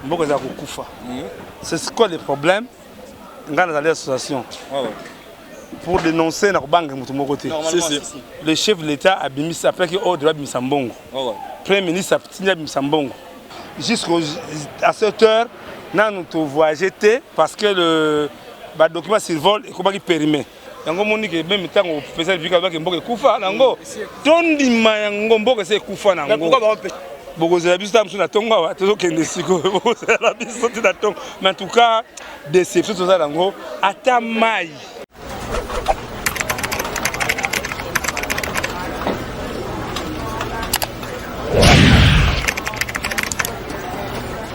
mboka eza kokufa hmm. c'est quoi le problème ngai nazali association ah pour dénoncer na kobanga moto moko te le chef de l'état abimisi apelaki ordre babimisa mbongo ah premier ministre atindi abimisa mbongo jusqu'à cette heure nanu tovoyage te parce que le badocument survol ekomaki périmé yango omoni ke meme ntango president republika alobaki mboka ekufa nango tondima yango mboka esi ekufa nango bokozela biso ntango mosusu na ntongo awa tozokende sikoyo bokozela biso ti na ntongo mais en tout cas déception toza nango ata mai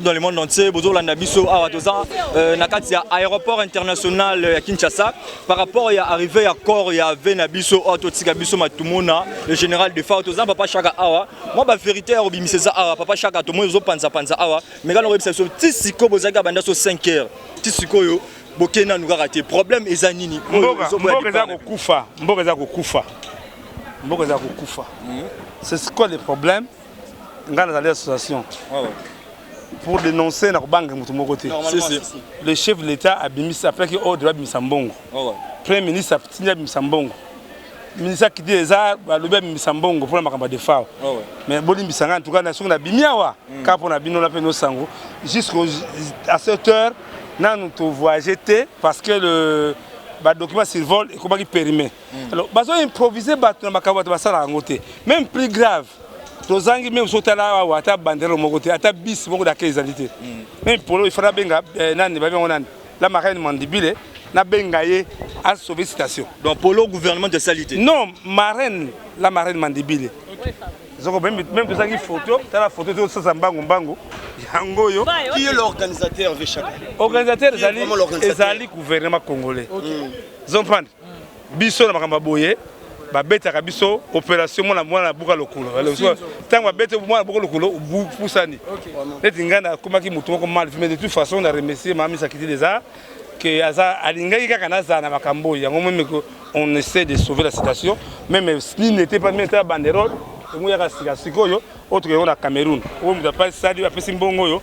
dans le monde entier bozolanda biso awa toza euh, na kati ya aéroport international ya Kinshasa par rapport ya arrivée ya corps ya ve na biso oyo totika biso matumona le général de fao toza papa shaka awa mwa ba vérité ya kobimisa eza awa papa shaka tomoni ozopanza panza awa mekana koyebisa biso ti sikoyo bozalaki abanda so 5 heures ti sikoyo bokei nanu kaka te problème eza nini mboka eza kokufa mboka eza kokufa mboka eza kokufa c'est quoi le problème ngai nazali association ah pour dénoncer na kobanga moto moko te le chef de l'état abimisi apelaki ordre babimisa mbongo ah premier ministre atindi abimisa mbongo ministre akidi eza balobi abimisa mbongo mpona makambo ya defao ah mais bolimbisa ngai antuka na soki nabimi awa hmm. kaka mpona bino na mpe nosango jusqu'au à cette heure nanu tovoyage te parce que le badocument survol ekomaki périmé hmm. alors bazo improviser bato na makambo bato basalaka yango te même plus grave tozangi meme soki tala awa ata bandelo moko te ata bis moko dake ezali te hmm. meme polo ifana abenga eh, nani babi yango nani la marraine mandibile nabenga ye asauve citation donc polo gouvernement esali te non marraine la marraine mandibile zoko meme tozangi photo tala photo tosasa mbangu mbangu yango oyo qui est l'organisateur vechaka organisateur ezali ezali gouvernement congolais zomprendre biso na makambo boye babetaka biso operation mwana mwana buka lokolo ntango babeti mwana buka lokolo bupusani neti ngai nakomaki motu moko mal mais de toute façon na remercie mama misakiti deza que aza alingaki kaka nazala na makambo oyo yango meme que on essaie de sauver la situation meme s'il n'était pas meta banderole yango yaka sika sikoyo oyo tokei na cameroun oyo moto apesali apesi mbongo oyo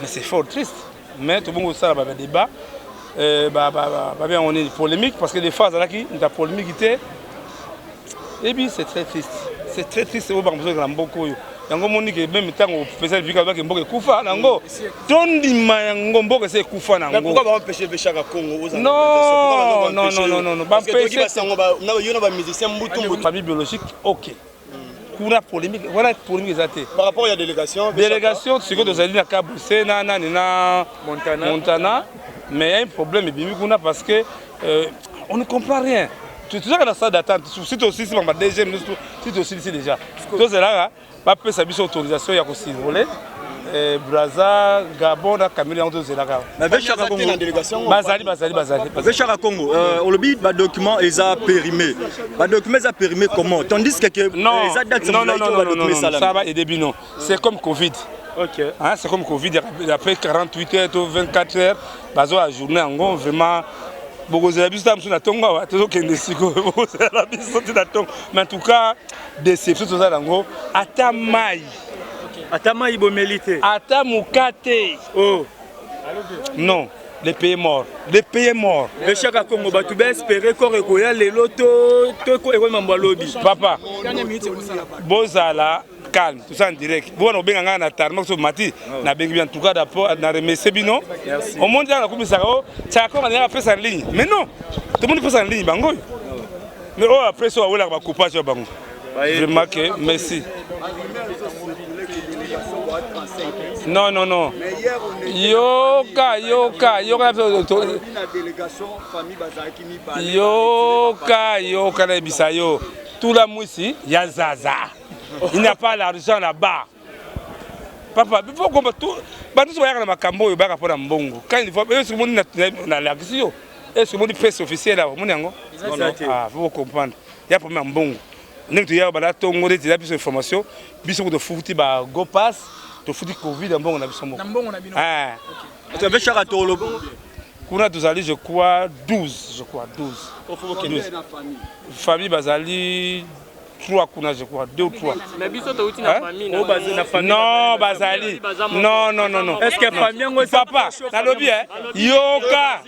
mais c'est fort triste mais tobongi kosala ba débat euh, babi yango nini polémique parce que des fois azalaki nta polémique te ebi c'est très triste c'est très triste oyo bango bozolekala mboka oyo yango omoni ke meme ntango opesa lipika alobaki mboka ekufa na yango tondima yango mboka esi ekufa na yango babibiologique ok kuna polemique wana polemique eza te par rapport ya délégation délégation sikoyo tozali na kabuse na nani na montana, montana mais ya un problème ebimi kuna parce que euh, on ne comprend rien tozalaka na stade d'attente si tosilisi bango ba deuxième si tosilisi déjà tozalaka bapesa biso autorisation ya kosurvole Eh, braza gabon na kamili yango tozelaka bazali bazali bazalivechaka congo euh, olobi badocument eza périmé badocument eza périmé comment tandis que euh, eza datesaa ba aide bino c'est comme covid Okay. Hein, c'est comme Covid, après 48 heures, 24 heures, bazo la journée en gros, vraiment, bokozela biso ta mosusu na ntongo awa tozokende sikoyo bokozela biso ti na ntongo mais en tout cas déception toza nango ata mai Ata mayi bomeli te. Ata mukate. Oh. Non. le pays mort le pays mort le shaka congo bato baespere kor ekoya lelo to ekoya mambo ya lobi papa bozala calme tout ça en direct bobana kobenga ngai na tarma so mati ah nabengi bien tout cas d'apport na remercie bino omoni ntango nakumisaka o shaka congo andingaka pesa na ligne mais non tomoni pesa na ligne bango oyo mais oyo apres oyo awelaka bacoupage ya bango Vraiment que Messi. Non, non, non. Yoka, yoka, yoka. Yoka, yoka, na bisa yo. Tout la mwisi ya zaza. Il n'a pas l'argent là-bas. Papa, il faut qu'on tout batu so bayaka na makambo oyo bayaka mpo na mbongo. Quand il faut, est-ce que moni na lakisi yo? Est-ce que moni presse officielle awa? Moni yango? Ah, faut comprendre. ya problème ya mbongo ndenge toya banda tongo neti eza biso information biso ko tofuti ba go pass tofuti covid ya mbongo na biso moko ah. tobeshaka tolo kuna tozali je crois 12 je crois 12 famille bazali 3 kuna je crois 2 ou 3 mais biso touti na famille oh, na famille non bazali non non non non est-ce que famille yango papa nalobi hein yoka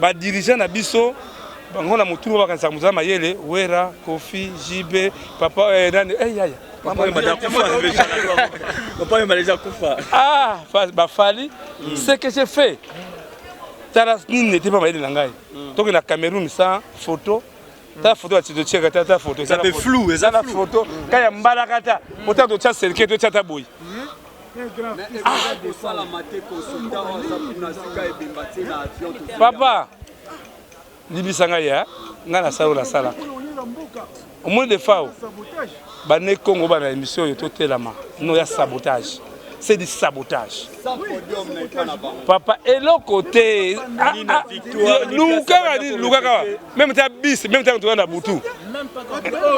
ba dirigeant na biso bango na motulu oyo bakanisaka mozala mayele wera kofi jibe papa eh, nani eh, yaya ah, bafali mm. ce que j'ai fait tala nini nete mpa mayele na ngai mm. toke na cameroun sans photo ta photo ya tito cheka ta ta photo eza pe flou eza na photo ka ya mbala kata ota to cha selke to cha ta boy papa libisa ngai ya ngai nasala oyo nasalaka omoni defao Ba ne kongo ba na emission oyo to telama no ya sabotage c'est du sabotage papa eloko te ah, ah, lukaka nini lukaka meme ta bis meme ta toka na butu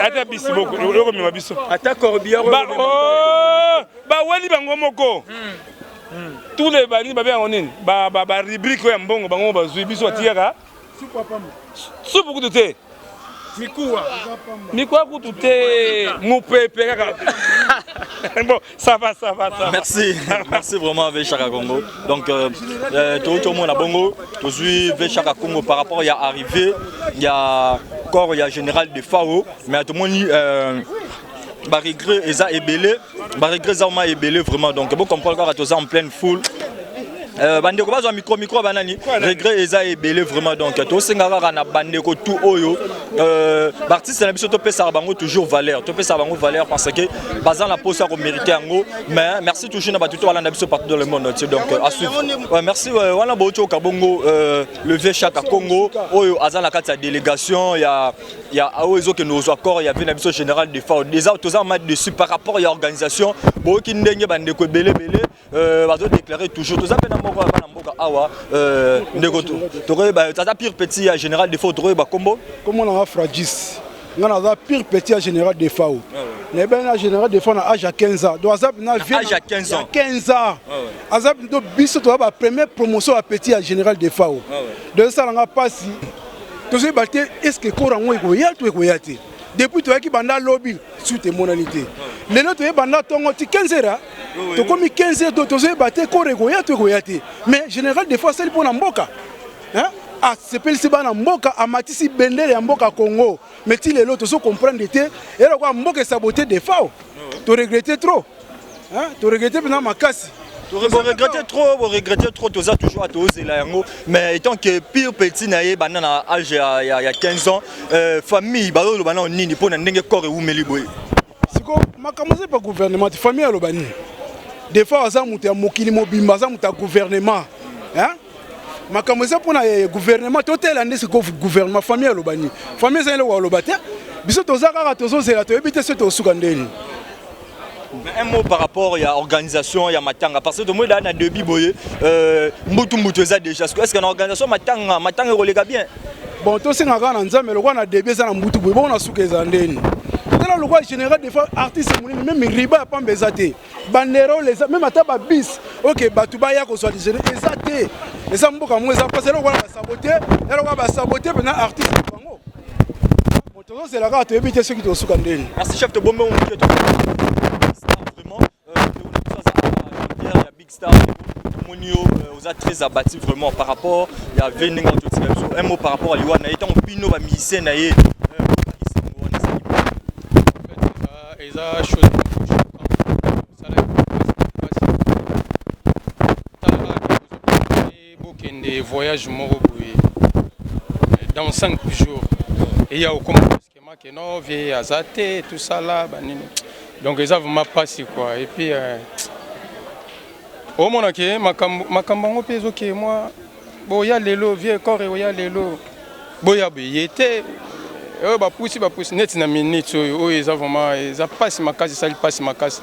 ata bis boko okomema biso ata corbière ba oh, ba wali bango moko hmm. tous les banini babe yango nini ba rubrique oyo ya mbongo bango bazwi biso batiyaka supu kutu te mikuwa mikuwa kutu te mupepe kaka bon ça va ça va ça merci merci vraiment Vechaka Congo donc euh, euh, tokoki tomona bongo tozwi Vechaka Congo par rapport ya arrivée ya corps ya général de Fao mais tomoni euh, baregret eza ebele ba regrets eza ma ebele vraiment donc bo comprendre kaka toza en pleine foule Euh, bandeko bazwa mikro mikro banani regret eza ebele vraiment donc tosenga kaka na bandeko tout oyo euh, baartiste na biso topesaka bango toujours valeur topesaka bango valeur parce que baza na mposa ya komérite yango mais merci toujours na bato to balanda biso partout dans le monde entier donc euh, asuivre ouais, merci euh, wana bootioka bongo euh, le vieux chaka congo oyo aza na kati ya délégation ya ya aoyo ezokende kozwa corps ya vie na biso général de ford eza toza ma dessus par rapport ya organisation boyoki ndenge bandeko ebele ebele euh, bazodeklare toujours toza mpe na moko ya bana mboka awa euh, ndeko tokoyeba aza pire petit ya général de ford tokoyeba kombo kombo nanga fragis nga naza pire petit ya général de fao ah nayebani na général de fao na age ya 15 ans donc aza na vie ya 15 ans ah aza do biso toza bapremier promotion ya petit ya général de fao ah donc esalanga mpasi tozoyeba te eske ekoro yango ekoya to ekoya te depuis toyaki banda lobi suite emonani te lelo toye banda ntongo ti 15 heures tokomi 15 heures do tozoyeba te ekoro ekoya to ekoya te mais général de fois asali mpo na mboka asepelisi bana mboka amatisi bendele ya mboka congo mais ti lelo tozo comprendre te elokoa mboka esabote defao toregrete trop Hein, to regretter pena makasi. Vous regrettez trop, vous regrettez trop, tout ça toujours à tous et là Mais étant que pire petit naïe, banane à âge il y a 15 ans, euh, famille, bah le banane ni ni pour n'engue corps et où me liboué. C'est quoi, ma commencé par gouvernement, famille à l'obani. Des fois, à ça, mouté à mokili mobimba, ça mouté à gouvernement, hein? makambo eza mpona eh, gouvernement totela nde sikoyo gouvernement famille ya lobani famille ezali eloko ya loba te biso toza kaka tozozela toyebi te soki tokosuka ndeni Mais un mot par rapport à l'organisation, il y a Matanga. Parce que tout le monde a un débit, boye, euh, mbutu mbutu eza déjà. Est-ce que l'organisation Matanga, Matanga est bien Bon, tout ce qu'on a en Nzambe, le roi a débit, ça a mbutu boye, bon, on a souké zandeni. Tala le roi général des fois artiste moulin, même riba pas mbezate. Bandero les même ata ba bis. OK, batuba ya ko soit des ezate. Eza mboka mo eza parce que le roi a saboté, le roi a saboté pendant artiste tozozela kaka toyebi te soki tosuka ndeni merci chef tobombe moke vraiment ya big star tomoni yo oza très abattu vraiment par rapport ya ve ndenge ototika biso un mot par rapport ya liwa na ye ntango bino bamusicien na ye eza chose Bokende voyage moko boye dans 5 jours et ya okoma brusquement que non vie aza te tout ça là banini donc eza vraiment pasi quoi et puis euh, omona ke makambo makambo yango mpe ezoke mwa boya lelo vie corps eoya lelo boya boye te oyo bapusi bapusi neti na minute oyo oyo eza vraiment eza pasi makasi esali pasi makasi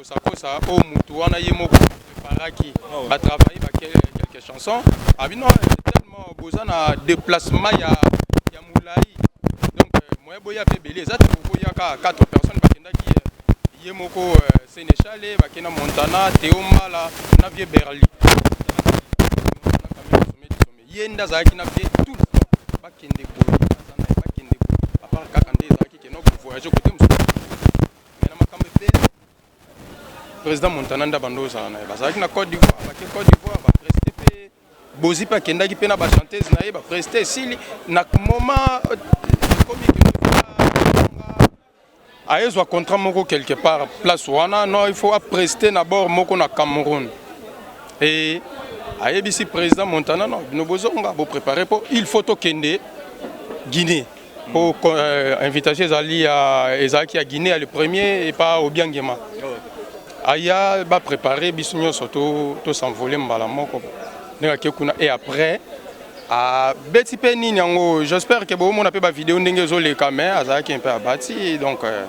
kosakosa oyo motu wana ye moko preparaki batravaille ba quelques chansons abi non tellement boza na déplacement ya, ya molai donc euh, moyen boya mpe ebele eza te bokoya kaka 4 personnes bakendaki euh, ye moko euh, sénéchale bakenda montana teomala na vie berli ye nde azalaki na vie tout le temps bakende boye aza na ye bakende boye apart kaka nde ezalaki keno kovoyage kote mosusu me na makambo ebele président montana nde abanda ozala na ye bazalaki na cote d'ivoire bake cote d'ivoire bapreste mpe bozi mpe akendaki mpe na bachantese na ye bapreste esili na moment euh, ekomi aye zwa contrat moko quelque part place wana non il faut apreste na bord moko na Cameroun et ayebisi président Montana non bino bozonga bo préparer po il faut tokende Guinée po euh, invitation ezali ya ezalaki ya Guinée ya le premier et pas Obiangema aya ba préparer biso nyonso to to s'envoler mbala moko ndenge ake kuna et après Abeti pe nini yango j'espère que bo mona pe ba video ndenge ezo leka mais azalaki un peu abati donc euh,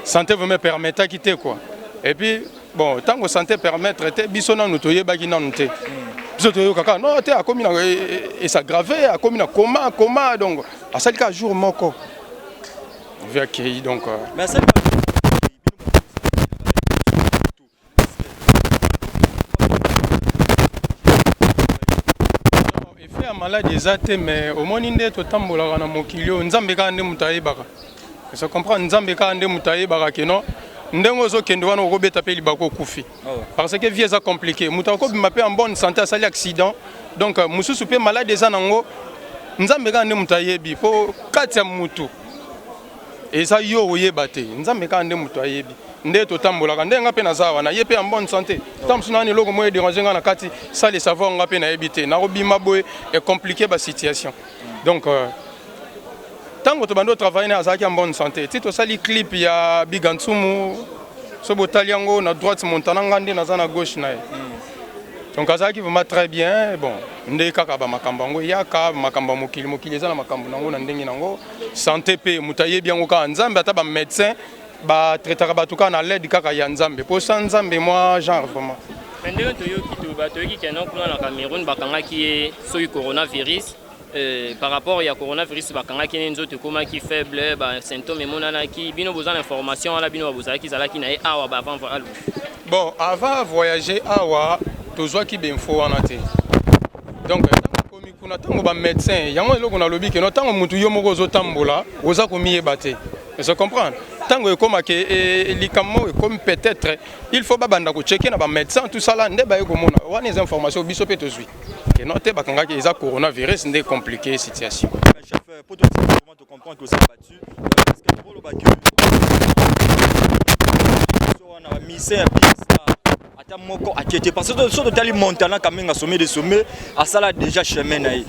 santé vraiment permettaki te quoi et puis bon tango santé permettre te biso nanu toyebaki nanu te biso toyoka kaka non te akomi na esagrave akomi na koma koma donc asali kaka jour moko vi akei donc euh, mais asali ya maladi eza te mais omoni nde totambolaka na mokili oyo nzambe kaka nde moto ayebaka eza comprendre nzambe kaka nde moto ayebaka keno ndenge ozokende wana okobeta mpe libaku okufi ah parce que vie eza compliqué moto akobima mpe en bonne santé asali accident donc euh, mosusu mpe maladi eza nango nzambe kaka nde moto ayebi mpo kati ya motu eza yo oyeba te nzambe kaka nde moto ayebi nde totambolaka nde nga mpe naza wana ye mpe ya bonne santé ntango mosusu nani eloko moko edérange nga na kati sale savoir nga mpe nayebi te nakobima boye ecomplike basituation donc euh, ntango euh, tobandi otravaille na azalaki ya bonne santé ti tosali clip ya biga nsumu so botali yango na droite montana nga nde naza na gauche na ye donc azalaki vraiment très bien bon nde kaka bamakambo yango eyaka makambo ya mokili mokili eza na makambo na yango na ndenge na yango Sante pe moto ayebi yango kaka Nzambe, ata ba medecin ba traitaka bato kaka na led kaka ya Nzambe, po sans Nzambe mwa genre vraiment. Mais ndenge toyoki to ba toyoki que non kuna na Cameroun bakangaki ye soki coronavirus euh, par rapport ya coronavirus bakangaki ne nzoto ekomaki faible ba symptômes emonanaki bino boza na information wana bino babozalaki zalaki na ye awa ba avant alu Bon, avant voyager awa tozwaki ba info wana te. Donc komikuna ntango ba médecin yango eloko nalobi keno ntango motu yo moko ozotambola oza komiyeba te je comprendre ntango ekomaka e, e, likambo ekomi peut-être il faut babanda kocheke na bamédecin tosala nde baye komona wana eza information biso mpe tozwi keno te bakangaki eza coronavirus nde compliqué situation Je comprends que ça battu parce que pour le battu on a mis ça ata moko akete parce que soki totali montana kamenga sommet de sommet asala déjà chemin na ye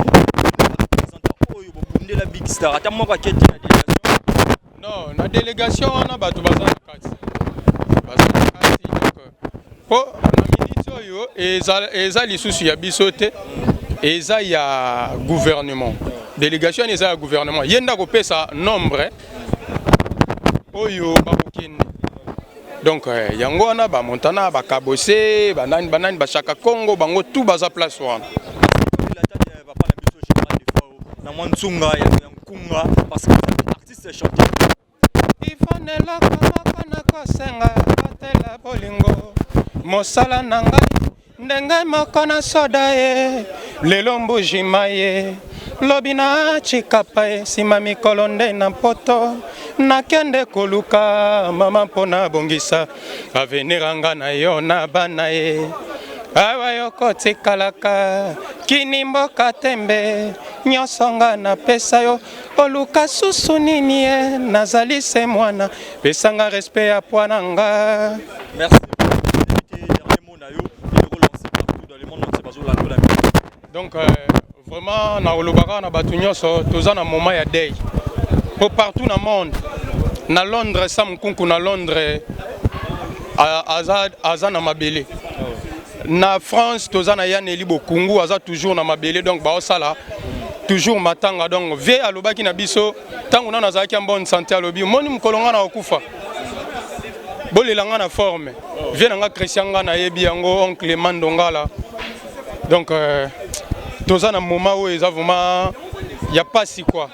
oyo bobundela big star ata moko akete na délégation non na délégation wana bato baza na kati baza na kati donc po minute oyo eza lisusu ya biso te eza ya gouvernement délégation eza ya gouvernement ye nde akopesa nombre oyo bakokende donc euh, yango wana bamontana bakabose banani banani bashaka congo bango tout baza place wana na mwa nsunga ya nkunga parce que artiste chanteur Yvonne eloko moko nakosenga batela bolingo mosala na ngai ndenge moko na soda ye lelo mbuji maye lobi na chikapa ye nsima mikolo nde na mpoto nakende koluka mama mpo nabongisa avenir anga na yo na bana ye awa yokotikalaka kini mboka tembe nyonso nga napesa yo Oluka susu nini ye eh? nazali se mwana pesanga respect ya pwa na nga merci donc euh, vraiment na olobaka na bato nyonso toza na moment ya dei mpo partout na monde na londres sam nkunku na londres aza, aza na mabele Na France toza na ya Nelly Bokungu aza toujours na mabele donc ba osala toujours matanga donc vie alobaki na biso tango nana azalaki en bonne santé alobi moni mukolo nga na okufa bolela nga na forme vie na nga Christian nga na yebi yango oncle Mandongala donc euh, toza na moment oyo eza vraiment ya pasi quoi